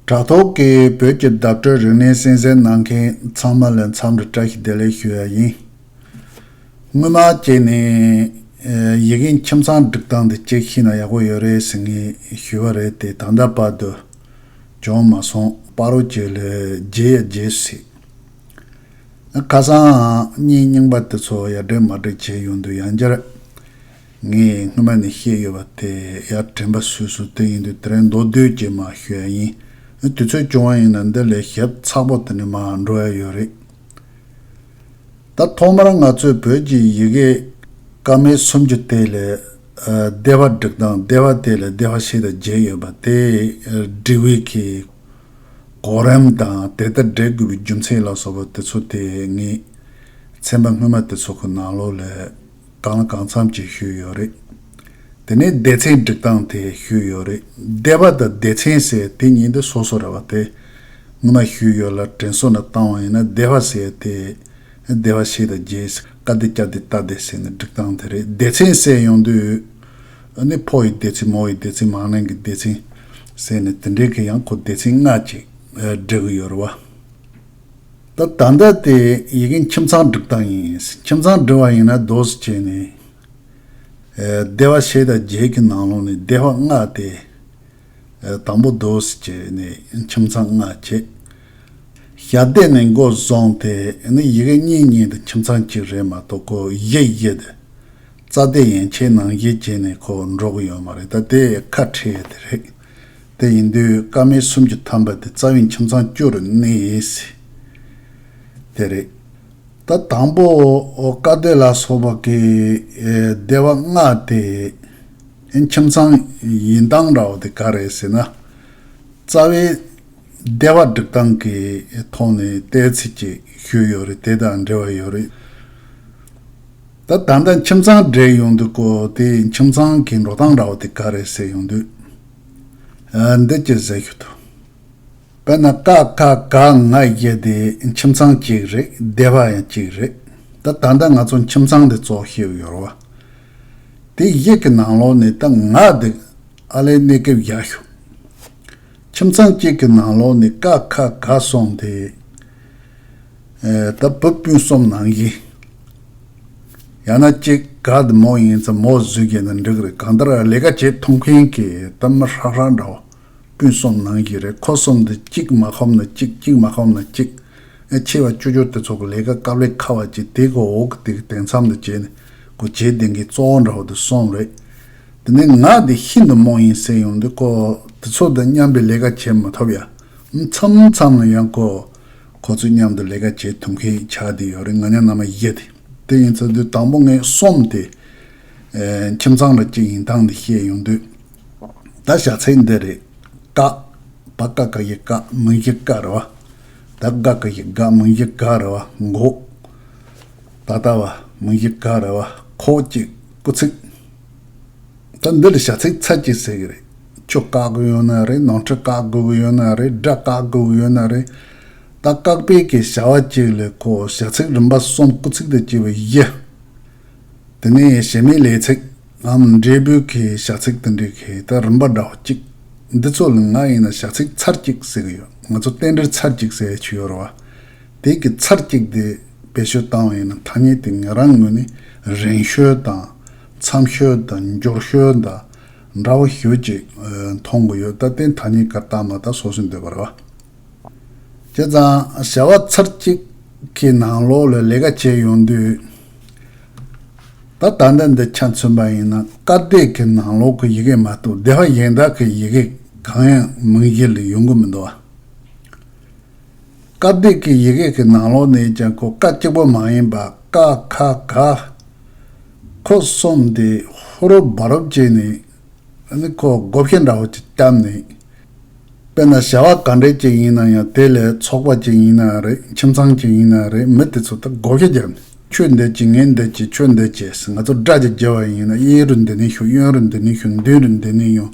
དྲ་ཐོག་གི་བོད་ཀྱི་བརྡ་སྤྲོད་རིག་གནས་གསན་གཟིགས་གནང་མཁན་ཚང་མ་ལ་འཚམས་འདྲི་བཀྲ་ཤིས་བདེ་ལེགས་ཞུ་ཡ་ཡིན། སྔོན་མ་བྱས་ནས་ཡི་གེ་ཁྱིམ་ཚང་སྒྲིག་སྟངས་འདི་ཅེག་ཤིས་ན་ཡག་པོ་ཡོད་རེད་ཟེར་ངེས་ཞུས་བ་རེད་དེ་ད་ལྟ་བར་དུ་བྱུང་མ་སོང་པ་རོ་གཅིག་ལ་བརྗེས་ཡ་བརྗེས་སུ་སྲིད། ཁ་སང་གཉིས་རྙིང་པ་དེ་ཚོ་ཡར་འགྲེལ་མར་འགྲེལ་བྱས་ཡོང་དུས་ཡང་བསྐྱར། ངས་སྔོན་མ་ནས་བཤད་ཡོད་པ་དེ་ཡར་དྲན་པ་བཟོས་སོ་དེ་ཡིན་དུས་དེ་རིང་མདོ་སྟོད་ཀྱི་མ་ཤོད་ཡ་ཡིན་དུས་ཚོད་སྐྱོ་བ་ཡིན་ན་འདི་ལས་ཞབས་ཚགས་པོ་དེ་ནས་མ་འགྲོ་ཡ་ཡོད་རེད་ད། ཐོག་མར་ང་ཚོས་བོད་ཀྱི་ཡི་གེ་སྐར་མའི་སུམ་ཅུ་དེ་ལས་སྡེ་བ་འགྲིག་དང་སྡེ་བ་དེ་ལས་སྡེ་བ་ཞིག་དང་བརྒྱད་ཡོད་པ་དེ་འབྲི་བའི་གི་གོ་རིམ་དང་དེ་ལྟར་འགྲེལ་དགོས་པའི་རྒྱུ་མཚན་ལ་སོགས་པ་དེ་ཚོ་དེ་ངས་ཚན་པ་སྔོན་མ་དེ་ཚོ་གི་ནང་ལོགས་ལས་གང་གང་འཚམ་གྱིས་ཞུས་ཡོད་རེད། དེ་ནས་སྡེ་ཚན་སྒྲིག་སྟངས་དེ་ཞུས་ཡོད་རེད། སྡེ་བ་དང་སྡེ་ཚན་ཟེར་དེ་གཉིས་འདི་སོ་སོ་རེད་བ་དེ། སྔོན་མ་ཞུས་ཡོད་ལ་དྲན་གསོ་ནས་བཏང་བ་ཡིན་ན་སྡེ་བ་ཟེར་དེ། སྡེ་བ་ཕྱེད་དང་བརྒྱད་ཟེར་ཀ་སྡེ་སྐྱ་སྡེ་རྟ་སྡེ་ཟེར་ནས་སྒྲིག་སྟངས་དེ་རེད་སྡེ་ཚན་གསལ་ཡོང་དུས། ནི་ཕོ་ཡི་སྡེ་ཚན་མོ་ཡི་སྡེ་ཚན་མང་ནན་གྱི་སྡེ་ཚན། ཟེར་ནས་དེ་འདྲའི་གི་ཡང་ཁོ་སྡེ་ཚན་ལྔ་ཅིག་སྒྲིག་གི་ཡོད་རེད་བ། ད་ལྟ་འདི་ལྟའི་ཡི་གེ་ཁྱིམ་ཚང་སྒྲིག་སྟངས་ཡིན། ཁྱིམ་ཚང་སྒྲིག་བ་ཡིན་ན་རྡོ་སུ་བྱས་ནས། སྡེ་བ་ཕྱེད་དང་བརྒྱད་ཀྱི་ནང་ལོགས་ནས་སྡེ་བ་ལྔ་སྟེ། དང་པོ་རྡོ་སུ་བྱས་ནས་ཁྱིམ་ཚང་ལྔ་བྱེད། ཞབས་སྡེ་ནས་མགོ་བཟུང་སྟེ་ནི་ཡི་གེ་གཉིས་གཉིས་དང་ཁྱིམ་ཚང་གཅིག་རེད་མ་གཏོགས་གོ་གཞི་བཞི་དེ། རྩ་སྡེ་ཡན་ཆད་ནང་བཞི་བྱས་ནས་ཁོ་འགྲོ་གི་ཡོད་མ་རེད་ད་དེ་ཁ་ཁྲལ་དེ་རེད། དེ་ཡིན་དུས་སྐར་མའི་གསུམ་གྱི་ཐམ་པ་དེ་རྩ་བའི་ཁྱིམ་ཚང་སྐྱོ་རུ་གནས་ཡིན་སྲིད། དེ་རེད། ད་དང་པོ་བཀའ་སྡོད་ལ་སོགས་པ་གིས་སྡེ་བ་ལྔ་དེ་ཁྱིམ་ཚང་ཡིན་སྟངས་འདྲ་བོ་དེ་ག་རེད་ཟེར་ན། རྩ་བའི་སྡེ་བ་སྒྲིག་སྟངས་ཀྱི་ཐོག་ནས་བལྟས་ཚེ་ཅིག་ཤོས་ཡོད་རེད་དེ་དང་འབྲེལ་བ་ཡོད་རེད། ད་ད་ལྟ་ཁྱིམ་ཚང་བསྒྲིགས་ཡོང་འདུག་གོ་དེ་ཁྱིམ་ཚང་གི་འགྲོ་སྟངས་འདྲ་བོ་དེ་ག་རེད་ཟེར་ཡོང་དུས། ཨ་འདི་ཅི་ཟེར་ཞུ་དོ། དཔེར་ན་ཀ་ཁ་ག་ང་བཞི་དེ་ཁྱིམ་ཚང་གཅིག་རེད་སྡེ་བ་ཡང་གཅིག་རེད་ད་ད་ལྟ་ང་ཚོ་ཁྱིམ་ཚང་འདི་བཙོག་ཤེས་ཡོར་བ། དེ་བཞི་གི་ནང་ལོགས་ནས་ད་ང་འདུག་ཨ་ལས་གནས་སྐབས་བཞག་ཞོག། ཁྱིམ་ཚང་གཅིག་གི་ནང་ལོགས་ནས་ཀ་ཁ་ག་སོང་དེ། ད་བབ་སྤུན་གསུམ་ནང་བཞིན། ཡང་ན་གཅིག་ག་དུ་མོ་ཡིན་ཙང་མོ་བཟོས་རྒྱལ་ན་འགྲིག་རེད་གང་ལྟར་ལས་ཀ་བྱེད་ཐུབ་མཁན་གྱི་གཏམ་མི་ཧྲག་ཧྲག་འདྲ་བ་སྤུན་གསུམ་ནང་བཞིན་རེད་ཁོ་གསུམ་དུ་གཅིག་མ་ཁོམ་ན་གཅིག་གཅིག་མ་ཁོམ་ན་གཅིག། ཨེ་ཆེ་བ་བཅུ་བཅུ་དེ་ཚོ་གི་ལས་ཀ་སྐབས་ལས་ཁ་བ་ཅིག་དེ་གི་འོག་གི་དེ་གི་དེང་མཚམས་དུ་བྱས་ནས་གོ་བྱེད་ལྡན་མཁན་གཙོ་བོ་འདྲ་བ་དུ་སོང་རེད། དེ་ནས་ང་དེ་ཤིན་ཏུ་རྨོངས་ཡིན་ཟེར་ཡོང་དུས་ཁོ་དེ་ཚོ་དང་མཉམ་པའི་ལས་ཀ་བྱེད་མ་ཐུབ་ཡ། མཚམས་མཚམས་ལ་ཡང་ཁོ་དེ་ཁོ་ཚོས་མཉམ་དུ་ལས་ཀ་བྱེད་ཐུབ་མཁན་ཡིག་ཆ་དེ་ཡོད་རེད་ང་ཉག་ན་མ་ཤེས་ཏེ། དེ་ཡིན་ཚོད་དུས་དང་པོ་ངས་སོམས་ཏེ། ཁྱིམ་ཚང་རེ་གཅིག་ཡིན་སྟངས་འདི་བཤད་ཡོང་དུས། ད་བྱ་ཚད་འདི་རེད། ཀ། བ་ཀ་ཀ་ཞེས་ཀ་མིང་གཞི་ཀ་རེད་བ། ད་དགའ་ཀ་ཞེས་དགའ་མིང་གཞི་དགའ་རེད་བ་འགོ། ད་ལྟ་བ་མིང་གཞི་ག་རེད་བ་ཁོ་བཅས་སྐུ་ཚིགས། ད་འདི་ལ་བྱ་ཚིག་ཚད་ཀྱིས་ཟེར་གི་རེད། ཁྱོད་བཀག་དགོས་ཡོད་ན་རེད་ནང་ཁྲི་བཀག་དགོས་ཡོད་ན་རེད་དགྲ་བཀག་དགོས་ཡོད་ན་རེད། ད་བཀག་པའི་གི་བྱ་བ་གཅིག་ལས་ཁོ་བྱ་ཚིག་རིམ་པ་གསུམ་སྐུ་ཚིག་ཏུ་བསྐྱིལ་བའི་གཞི། དེ་ནས་བྱེ་མའི་ལས་ཚིག་ངམ་འབྲས་བུའི་གི་བྱ་ཚིག་དུ་འདྲི་གི་ད་རིམ་པ་འདྲ་བོ་གཅིག། འདི་ཚོ་ལ་ང་ཡིན་ན་བྱ་ཚིག་ཚར་གཅིག་ཟེར་གི་ཡོད་ང་ཚོ་རྟེན་འབྲེལ་ཚར་གཅིག་ཟེར་གྱི་ཡོད་རེད་བ། དེའི་གི་ཚར་གཅིག་དེ་བེད་སྤྱོད་བཏང་བ་ཡིན་ན་ཐ་སྙད་དེ་ངེད་རང་ངོས་ནས་རིང་ཤོས་དང། མཚམས་ཤོལ་དང་མགྱོགས་ཤོལ་དང་འདྲ་བོ་ཞུ་ཅིག་མཐོང་གི་ཡོད་ད་ལྟའི་ཐ་སྙད་གར་སྟངས་མ་དག་སོ་སོའི་འདོད་པ་རེད་བ། བྱས་ཙང་བྱ་བ་ཚར་གཅིག་གི་ནང་ལོགས་ལ་ལས་ཀ་བྱས་ཡོང་དུས། ད་ད་ལྟ་འདི་ཆ་མཚོན་པ་ཡིན་ན་བཀའ་བསྡད་ཀྱི་ནང་ལོགས་ཀྱི་ཡི་གེ་མ་གཏོགས་སྡེ་བ་གཞན་དག་གི་ཡི་གེ་གང་ཡང་མིང་གཞི་ལ་ཡོང་གི་མི་འདུག་བ། བཀའ་བརྒྱུད་ཀྱི་ཡི་གེ་ཀྱི་ནང་ལོགས་ནས་ཀྱང་གོ་བཀའ་གཅིག་པོ་མ་ཡིན་པར་ཀ་ཁ་ག་ཁོ་གསུམ་སྟེ་ཧོ་རོབ་སྦ་རོབ་བྱས་ནས་ནི་ཁོ་བགོ་བཤའ་འདྲ་བོ་ཅིག་བསྐྱབས་ནས། དཔེར་ན་བྱ་བ་ག་འདྲའི་ཅིག་ཡིན་ན་ཡང་དེ་ལས་ཚོགས་པ་ཅིག་ཡིན་ན་རེད་ཁྱིམ་ཚང་ཅིག་ཡིན་ན་རེད་མི་དེ་ཚོ་དང་བགོ་བཤའ་བརྒྱབ་ནས་ཁྱོད་འདི་བྱེད་ངས་འདི་བྱེད་ཁྱོད་འདི་བྱས་ཟེར་ང་ཚོ་སྦྲ་ཅིག་བརྒྱབ་བ་ཡིན་ན་གཡས་རུ་འདི་ནས་ཞུགས་གཡོན་རུ་འདི་ནས་ཞུགས་མདུན་རུ་འདི་ནས་ཡོང།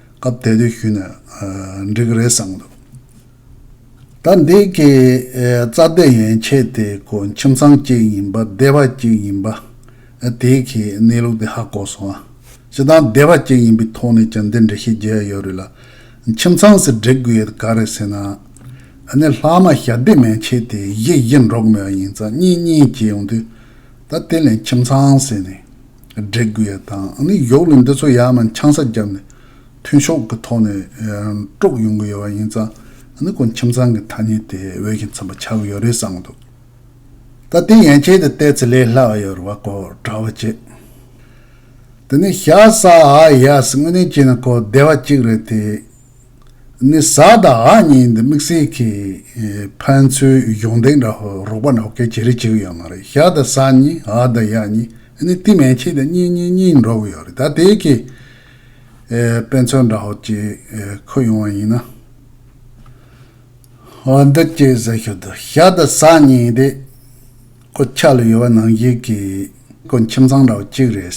སྐབས་དེ་དུས་ཞུས་ནས་འགྲིག་གི་རེད་བསམ་འདུག་ད་འདི་གའི་རྩ་དོན་ཡན་ཆད་དེ་གོ་ཁྱིམ་ཚང་གཅིག་ཡིན་པ་སྡེ་བ་གཅིག་ཡིན་པ་དེ་གའི་གནས་ལུགས་དེ་ཧ་གོ་སོང་ཨ་ཅེ་ད་སྡེ་བ་གཅིག་ཡིན་པའི་ཐོག་ནས་ཀྱང་འདི་འདྲི་ཤེས་རྒྱལ་ཡག་ཡོད་རེད་ལ་ཁྱིམ་ཚང་ཟེར་འགྲིག་དགོས་ཡོད་ག་རེད་ཟེར་ན་ཨ་ནི་ལྷག་མ་ཞྭ་སྡེ་མན་ཆད་དེ་གཞི་གཞི་འགྲོགས་མེད་པ་ཡིན་ཙང་གཉིས་གཉིས་བྱས་ཡོང་དུས་ད་དེ་ལས་ཁྱིམ་ཚང་ཟེར་ནས། འདྲེ་རྒུད་ཡ་དང་ཨ་ནི་ཡོག་ལུས་འདི་ཚོ་ཡ་མ་འཆང་ས་རྒྱབ་ནས་མཐུན་ཤོག་གི་ཐོག་ནས་དཀྲོག་ཡོང་གི་ཡོད་པ་ཡིན་ཙང་ཨ་ནི་ཁོ་ཁྱིམ་ཚང་གི་ཐ་སྙད་དེ་འོས་ཤིང་འཚམ་པ་ཆགས་གི་ཡོད་རེད་བསམ་གི་འདུག་ད་དེ་ཡན་ཆད་དུ་བལྟས་ཚེ་ལས་སླ་བ་ཡོད་རེད་བ་ཁོ་གྲྭ་བ་བྱས་དེ་ནས་ཤ་ཟ་ཨ་ཡ་ཟི་དངོས་གནས་བྱས་ན་ཁོ་བདེ་བ་གཅིག་རེད་དེ་ནི་བཟའ་དང་ཨ་གཉིས་འདི་དམིགས་བསལ་གྱི་ཕན་ཚུན་གཞོགས་འདེགས་འདྲ་རོགས་པ་འདྲ་གལ་ཆེ་རེ་བྱེད་གི་ཡོད་མ་རེད་ཞག་དང་སང་ཉིན་ཨ་དང་ཡག་གཉིས་ནི་བསྟི་མན་ཆད་དུ་གཉིས་གཉིས་གཉིས་འགྲོ་གི་ཡོད་རེད་ད་དེ་གའི་དཔེ་མཚོན་འདྲ་ཧོ་ཅེས་འཁོད་ཡོང་བ་ཡིན་ན། ཧོ་འདི་སྐྱེས་བཟའ་ཤོད་དུ་ཞག་དང་སང་ཉིན་དེ་ཁོ་ཆགས་ལ་ཡོད་པ་ནང་བཞིན་གྱི་ཁོ་ཁྱིམ་ཚང་འདྲ་བ་གཅིག་རེད།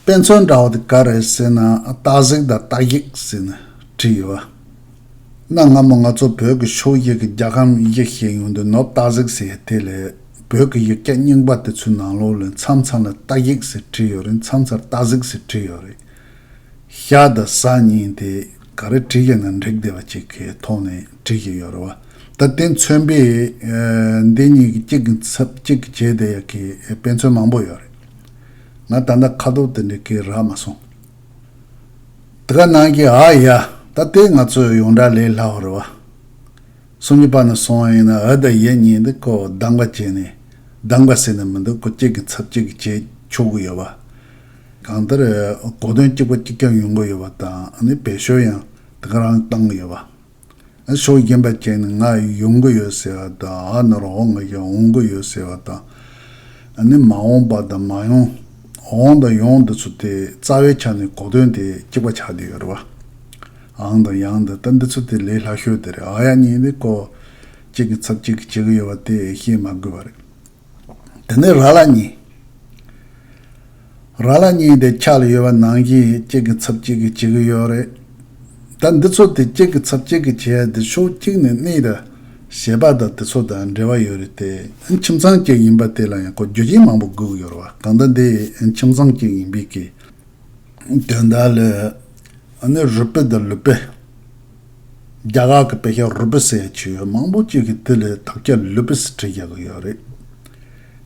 དཔེ་མཚོན་འདྲ་བོ་དེ་ག་རེད་ཟེར་ན་སྟག་གཟིག་དང་སྟག་གཞིག་ཟེར་ནས་བྲིས་ཡོད་པ། གནའ་སྔ་མོ་ང་ཚོ་བོད་ཀྱི་ཕྱོགས་ཡིག་གི་རྒྱ་ཁམས་ཡིག་གཞན་ཡོང་དུས་ནོར་སྟག་གཟིག་ཟེར་ཡ་དེ་ལས་བོད་ཀྱི་ཡིག་སྐད་རྙིང་པ་དེ་ཚོའི་ནང་ལོགས་ལས་མཚམས་མཚམས་ལ་སྟག་གཞིག་ཟེར་བྲིས་ཡོད་རིང་མཚམས་མཚར་སྟག་གཟིག་ཟེར་བྲིས་ཡོད་རེད། ཤ་དང་ཟ་གཉིས་དེ་ག་རེ་བྲིས་ཀྱང་ན་འགྲིག་བདེ་བ་ཅིག་གི་ཐོག་ནས་བྲིས་བཞིན་ཡོད་རེད་བ། ད་དེ་མཚོན་དཔེ་འདི་གཉིས་ཀྱི་གཅིག་གི་ཚབ་གཅིག་གིས་བྱས་བསྡད་ཡག་གི་དཔེ་མཚོན་མང་པོ་ཡོད་རེད། ང་ད་ལྟ་ཁ་དོག་དེ་འདྲའི་སྐད་རག་མ་སོང། དེ་ག་ནང་གི་ཨ་ཡ། ད་ལྟའི་ང་ཚོའི་ཡོངས་གྲགས་ལས་སླ་བ་རེད་བ། སུམ་ཅུ་པ་ནས་སོང་བ་ཡིན་ན་ཨ་དང་ཡེ་གཉིས་འདི་ཀོ་གདངས་པ་བྱས་ནས་གདངས་པ་ཟེར་ནས་མི་འདུག་ཀོ་གཅིག་གི་ཚབ་གཅིག་གིས་བྱས་ཆོག་གི་ཡོད་བ། གང་ལྟར། གོ་དོན་གཅིག་པ་གཅིག་རྐྱང་ཡོང་གི་ཡོད་བ་དང་ནི་བེད་ཤོལ་ཡང་དེ་ག་རང་གིས་བཏང་གི་ཡོད་བ། ཕྱོགས་རྒན་པ་ཅིག་ནི་ང་ཡོང་གི་ཡོད་ཟེར་བ་དང་ཨ་ནོར་འོང་གི་ཡོད་འོང་གི་ཡོད་ཟེར་བ་དང། ནི་མ་འོངས་པ་དང་མ་ཡོང་འོང་དང་ཡོང་འདི་ཚོ་དེ་རྩ་བའི་ཆ་ནས་གོ་དོན་དེ་གཅིག་པ་ཆགས་འདུག་གི་རེད། ཨང་དང་ཡང་དང་ལྟ་འདི་ཚོ་དེ་ལས་སླ་ཤོས་དེ་རེད་ཨ་ཡ་གཉིས་དེ་ཀོ་གཅིག་གི་ཚབ་གཅིག་གིས་བྱེད་གི་ཡོད་པ་དེ་ཤེས་མ་དགོས་པ་རེད། དེ་ནས་ར་ལ་གཉིས། ར་ལ་གཉིས་དེ་ཆགས་ལ་ཡོད་པ་ནང་བཞིན་གཅིག་གི་ཚབ་གཅིག་གིས་བྱེད་ཀྱི་ཡོད་རེད། ད་འདི་ཚོ་དེ་གཅིག་གི་ཚབ་གཅིག་གིས་བྱས་དེ་ཕྱོགས་གཅིག་ནས་གནས་ད་ཞེས་པ་དང་དེ་ཚོ་དང་འབྲེལ་བ་ཡོད་རེད་དེ། ཁྱིམ་ཚང་གཅིག་ཡིན་པ་དེ་ལ་ཡང་གོ་རྒྱུ་ཅན་མང་པོ་སྒུག་ཡོད་རེད། གང་ལྟར་འདི་ཁྱིམ་ཚང་གཅིག་ཡིན་པའི་གི། དོན་དག་ལ། ཨ་ནི་རུ་པི་དང་ལུ་པི། རྒྱ་གར་གྱི་དཔེ་ཆ་རུ་པི་སའི་ཆུ་ཡོས་མང་པོ་གཅིག་གིས་དེ་ལས་དག་བྱ་ལུ་པི་སི་བྲིས་རྒྱག་གི་ཡོད་རེད།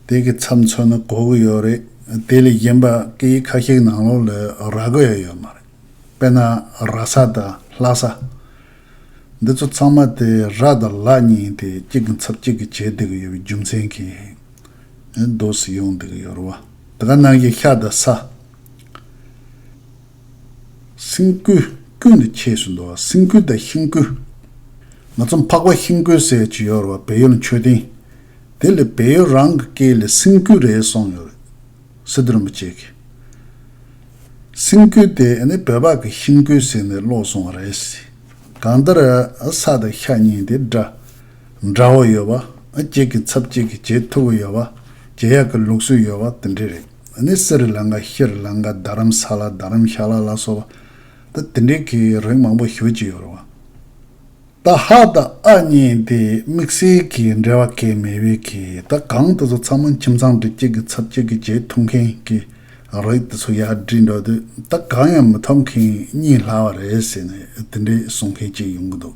དེ་གི་ཚབ་མཚོན་ནི་གོ་གི་ཡོད་རེད། དེ་ལས་གཞན་པ་སྐད་ཡིག་ཁ་ཤས་ནང་ལོགས་ལས་ར་གོ་ཡ་ཡོད་མ་རེད། དཔེར་ན་ར་ས་དང་ལྷ་ས། འདི་ཚོ་ཚང་མ་དེ་ར་དང་ལྷ་གཉིས་ཡིན་ཏེ་གཅིག་གི་ཚབ་གཅིག་གིས་བྱེད་བསྡད་གི་ཡོད་པའི་རྒྱུ་མཚན་གྱིས་རྡོ་སི་ཡོང་བསྡད་གི་ཡོད་རེད་བ། དེ་ག་ནང་བཞིན་ཤ་དང་ས། སེམས་བསྐུལ། ཀུན་ནས་ཁྱེད་སུ་འདུ་བ་སེམས་བསྐུལ་དང་ཤིང་བསྐུལ། ང་ཚོ་འཕགས་པ་ཤིང་བསྐུལ་སྲས་བཅུ་ཡོད་རེད་བ་བལ་ཡུལ་མཆོད་རྟེན་དེ་ལས་བལ་ཡུལ་རང་གི་སྐད་ལས་སེམས་བསྐུལ་རེད་གསུངས་ཡོད་རེད་སི་ཏུ་རིན་པོ་ཆེ་གིས། སེམས་བསྐུལ་དེ་ནི་བོད་པ་གི་ཤིང་བསྐུལ་ཟེར་ནས་ཀློག་གསུངས་བ་རེད་སི། གང་ལྟར། ས་དང་ཤ་གཉིས་དེ་འདྲ་འདྲ་བོ་ཡོད་བ། ཁྱེད་ཀྱི་ཚབ་ཅིག་གིས་བྱེད་ཐུབ་བོ་ཡོད་བ། བྱེད་ཡག་གི་ལུགས་སྲོལ་ཡོད་བ་དེ་འདྲས་རེད། ད་ནི་སིརི་ལངྒ་ཤིར་ལངྒ་རྡ་རམ་ས་ལ་རྡ་རམ་ཤ་ལ་ལ་སོགས་པ་ད་དེ་འདྲའི་གི་རིགས་མང་པོ་ཞུ་གྱི་ཡོད་རེད་བ། ད་ཧ་ད་ཨ་གཉིས་དེ་དམིགས་བསལ་གི་འབྲེལ་བ་གས་མེད་བས་གི་ད་གང་དུ་ཚོ་ཚང་མ་ཁྱིམ་ཚང་འདྲི་བྱེད་གི་ཚབ་བྱེད་གི་བྱེད་ཐུབ་མཁན་གི་རིགས་དེ་ཚོ་ཡར་བསྒྲིགས་འགྲོ་དུས་ད་གང་ཡང་མི་ཐོབ་མཁན་གཉིས་ལྷག་བ་རེད་ཟེར་ནས་དེ་འདྲའི་གསུང་མཁན་གཅིག་ཡོང་གི་འདུག།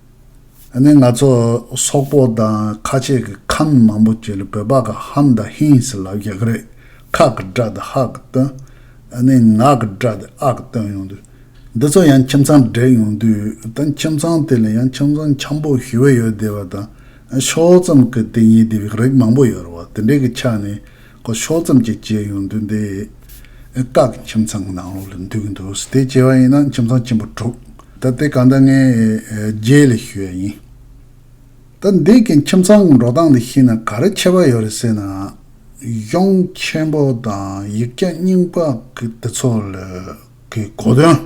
ཨ་ནེ་ང་ཚོ་སོག་པོ་དང་ཁ་ཆེ་གི་ཁམས་མང་པོ་ཀྱི་ལ་བོད་པ་གི་ཧམ་དང་ཧིན་སི་ལ་གི་ག་རེད་ཁག་གི་སྒྲ་དེ་ཧག་གི་སྟོན་ཨ་ནེ་ངག་གི་སྒྲ་དེ་ཨག་གི་སྟོན་ཡོང་དུས་འདི་ཚོ་ཡང་ཁྱིམ་ཚང་འདྲེས་ཡོང་དུས་དང་ཁྱིམ་ཚང་དེ་ལ་ཡང་ཁྱིམ་ཚང་འཁྱམ་པོ་ཞི་བ་ཡོད་དེ་བ་དང་ཤོག་ཙམ་གི་དེ་གཉིས་དེ་བི་རིགས་མང་པོ་ཡོད་རེད་བ་དེ་འདྲེ་གི་ཆ་ནས་སྒོ་ཕྱོགས་ཙམ་གྱི་བརྗེད་ཡོང་དུས་འདི་ཨེ་སྟག་གི་ཁྱིམ་ཚང་གི་ནང་ལོགས་ལ་འདུས་ཀྱི་འདུག་དེ་བརྗེད་པ་ཡིན་ན་ཁྱིམ་ཚང་ཆེན་པོ་དྲུག་ད་ལྟའི་གང་ལྟར་ངའི་རྗེས་ལས་ཤི་བ་ཡིན། ད་འདི་གི་ཁྱིམ་ཚང་གི་འགྲོ་སྟངས་འདི་ཤེས་ན་ག་རེ་ཆེ་བ་ཡོད་རེད་ཟེར་ན། གཞུང་ཆེན་པོ་དང་ཡིག་སྐྱག་རྙིང་པ་གི་དེ་ཚོ་ལ་གི་གོ་དོན་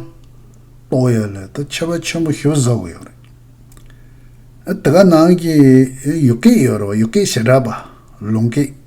རྟོགས་ཡ་ལས་ད་ཆེ་བ་ཆེན་པོ་ཤི་བ་བཟོ་གི་ཡོད་རེད། དེ་ག་ནང་གི་ཡུག་སྐད་ཡོད་རེད་བ་ཡུག་སྐད་ཞེ་དྲག་པ་ལུང་སྐད།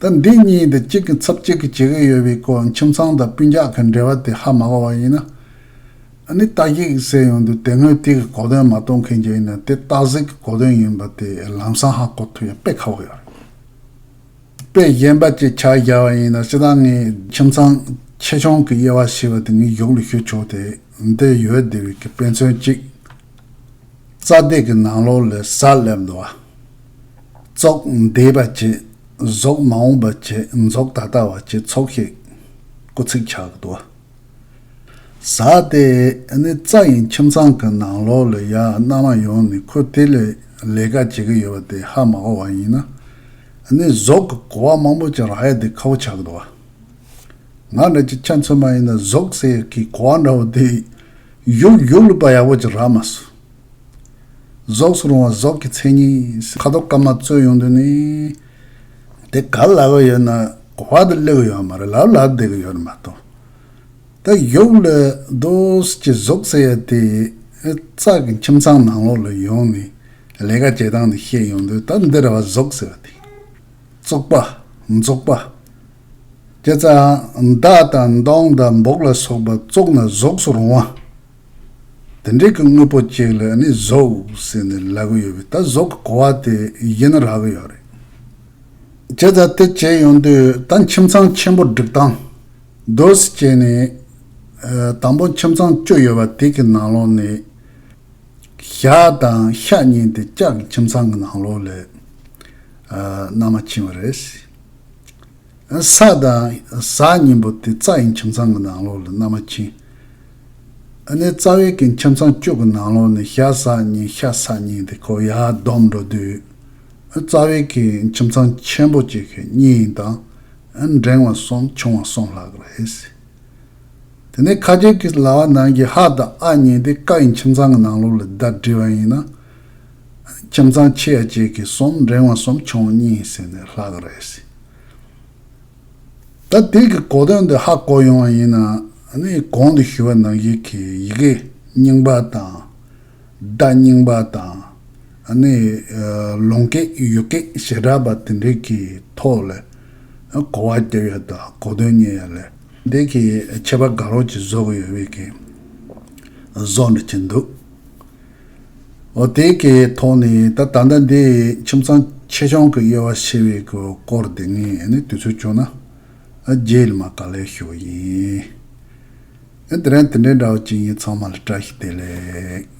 ད་འདི་གཉིས་དེ་གཅིག་གི་ཚབ་གཅིག་གིས་བྱེད་ཀྱི་ཡོད་པའི་སྐོར་ཁྱིམ་ཚང་དང་སྤུན་རྒྱག་གི་འབྲེལ་བ་དེ་ཧ་མ་གོ་བ་ཡིན་ན། ཨ་ནི་སྟག་གིག་ཟེར་ཡོང་དུས་དེ་སྔོན་དེ་གི་གོ་དོན་མ་གཏོང་མཁན་གྱི་ཡིན་ན་དེ་སྟག་གཟིག་གི་གོ་དོན་ཡིན་པ་དེ་ལམ་སང་ཧ་གོ་ཐུབ་ཡ་དཔེ་ཁ་བོ་ཡོད་རེད། དཔེ་གཞན་པ་གཅིག་ཕྱག་རྒྱ་བ་ཡིན་ན་ཅི་ད་ངས་ཁྱིམ་ཚང་ཆེ་ཆུང་གི་དབྱེ་བ་ཞེས་པ་དེ་ངའི་གཞུག་ལ་ཞུ་ཆོག་དེ་འདི་ཡོད་བདེ་བའི་གི་དཔེ་མཚོན་གཅིག་རྩ་བདེ་གི་ནང་ལོག་ལས་གཟའ་སླེབས་འདུག་བ། ཙོག་འདས་པ་ཅེས་ཟོག་མ་འོངས་པ་ཅེས་རྫོགས་ད་ལྟ་བ་ཅེས་ཚོགས་ཤིག་སྐུ་ཚིག་ཆགས་འདུག་བ། ཟ་དེ་ནི་རྩ་ཡིན་ཁྱིམ་ཚང་གི་ནང་ལོགས་ལས་ཡ་མནའ་མ་ཡོང་ནས་ཁོས་དེ་ལས་ལས་ཀ་བྱེད་ཀྱི་ཡོད་པ་དེ་ཧ་མ་གོ་བ་ཡིན། ནི་ཟོག་གི་གོ་བ་མང་པོ་ཅིག་རག་ཡ་དེ་ཁ་བོ་ཆགས་འདུག་བ། ང་འདྲ་ཅིག་ཆ་མཚོན་མ་ཡིན་ན་ཟོག་ཟེར་ཡ་གིས་གོ་བ་འདྲ་བོ་དེ་ཡུག་ཡུག་ལུས་པ་ཡག་པོ་ཅིག་རག་མ་སོང། རྫོགས་སུ་རུང་བ་རྫོགས་ཀྱི་མཚན་ཉིད། ཁ་དོག་དཀར་དམར་རྩོལ་ཡོང་དུས་ནི། དེ་ག་ལ་བ་ཡོད་ན་བ་དེ་བསླེ་གི་ཡོད་མ་རེད་ལ་ལ་བསྡད་གི་ཡོད་རེད་མ་གཏོགས། ད་ཡོག་ལས་རྡོས་ཀྱི་རྫོགས་ཟེར་ཡ་དེ་ཙག་གི་ཁྱིམ་ཚང་ནང་ལོག་ལ་ཡོང་ནས་ལས་ཀ་བྱེད་སྟངས་དེ་ཤེས་ཡོང་དུས་ད་འདིར་བ་རྫོགས་ཟེར་བ་དེ། བཙོག་པ། འཛོག་པ། སྐྱེ་རྩ། མདའ་དང་མདོང་དང་འབོག་ལ་སོགས་པ་བཙོག་ན་རྫོགས་སུ་རུང་བ། དེ་འདྲའི་གི་དངོས་པོ་གཅིག་ལ་ནི་གཟུགས་ཟེར་ནས་ལབ་གི་ཡོད་པས་ད་གཟུགས་ཀྱི་གོ་བ་དེ་ཡིན་ན་རག་གི་ཡོད་རེད། བྱས་ཙང་དེ་བྱས་ཡོང་དུས་ད་ཁྱིམ་ཚང་ཆེན་པོ་སྒྲིག་སྟངས་སྡོད་སི་བྱས་ནས། དང་པོ་ཁྱིམ་ཚང་བཅུ་ཡོད་པ་དེ་གི་ནང་ལོགས་ནས། ཞག་དང་ཤ་གཉིས་དེ་ལྕགས་ཀྱི་ཁྱིམ་ཚང་གི་ནང་ལོགས་ལས། ནང་མ་ཕྱིན་བ་རེད། ས་དང། གཟའ་གཉིས་པོ་དེ་རྩ་ཡི་ཁྱིམ་ཚང་གི་ནང་ལོགས་ལ་མནའ་མ་ཕྱིན། དེ་ནས་རྩ་བའི་གི་ཁྱིམ་ཚང་བཅུ་གི་ནང་ལོགས་ནས་ཤ་ཟ་གཉིས་ཤ་ཟ་གཉིས་དེ་ཁོ་ཡར་བསྡོམས་འགྲོ་དུས། རྩ་བའི་གི་ཁྱིམ་ཚང་ཆེན་པོ་གཅིག་གི་གཉིས་ཡིན་དང། འབྲིང་བ་གསུམ་ཆུང་བ་གསུམ་ལྷག་གི་རེད། དེ་ནས་ཁ་རྒྱབ་ཀྱི་ལྭ་བ་ནང་གི་ཧ་དང་ཨ་གཉིས་དེ་ཀ་ཡི་ཁྱིམ་ཚང་གི་ནང་ལོགས་ལ་བརྡ་བསྒྲིལ་བ་ཡིན་ན། ཁྱིམ་ཚང་ཆེ་བ་བཅས་ཀྱི་གསུམ་འགྲེང་བ་གསུམ་ཆུང་བ་གཉིས་ཟེར་ནས་ལྷག་གི་རེད། ད་དེ་གི་གོ་དོན་འདི་ཧ་གོ་ཡོང་བ་ཡིན་ན་ནི་གོང་དུ་ཞུས་པ་ནང་བཞིན་གྱི་ཡི་གེ་རྙིང་པ་དང་སྒྲ་རྙིང་པ་དང་ནི་ལུང་སྐད་ཡུལ་སྐད་ཞེ་དྲག་པ་དེ་འདྲའི་གི་ཐོག་ལ་གོ་བ་རྒྱབ་ཡོད་ད་གོ་དོན་རྙེད་ཡ་ལེ། འདི་གི་ཆད་པ་དགའ་རོགས་ཀྱིས་བཟོ་གི་ཡོད་བས་ཀྱི་བཟོ་འདྲི་གྱི་འདུག། དེ་གའི་ཐོག་ནས་ད་ད་ལྟ་འདི་ཁྱིམ་ཚང་ཆེ་ཆུང་གི་དབྱེ་བ་ཕྱེ་བའི་སྐོར་འདི་ངས་དུས་ཚོད་བྱུང་ན་རྗེས་མ་ག་ལེར་ཞུ་ཡིན། དེ་རིང་དེ་འདྲའི་འདྲ་བ་ཅིག་ཡིན་ཚང་མ་ལ་བཀྲ་ཤིས་བདེ་ལེགས།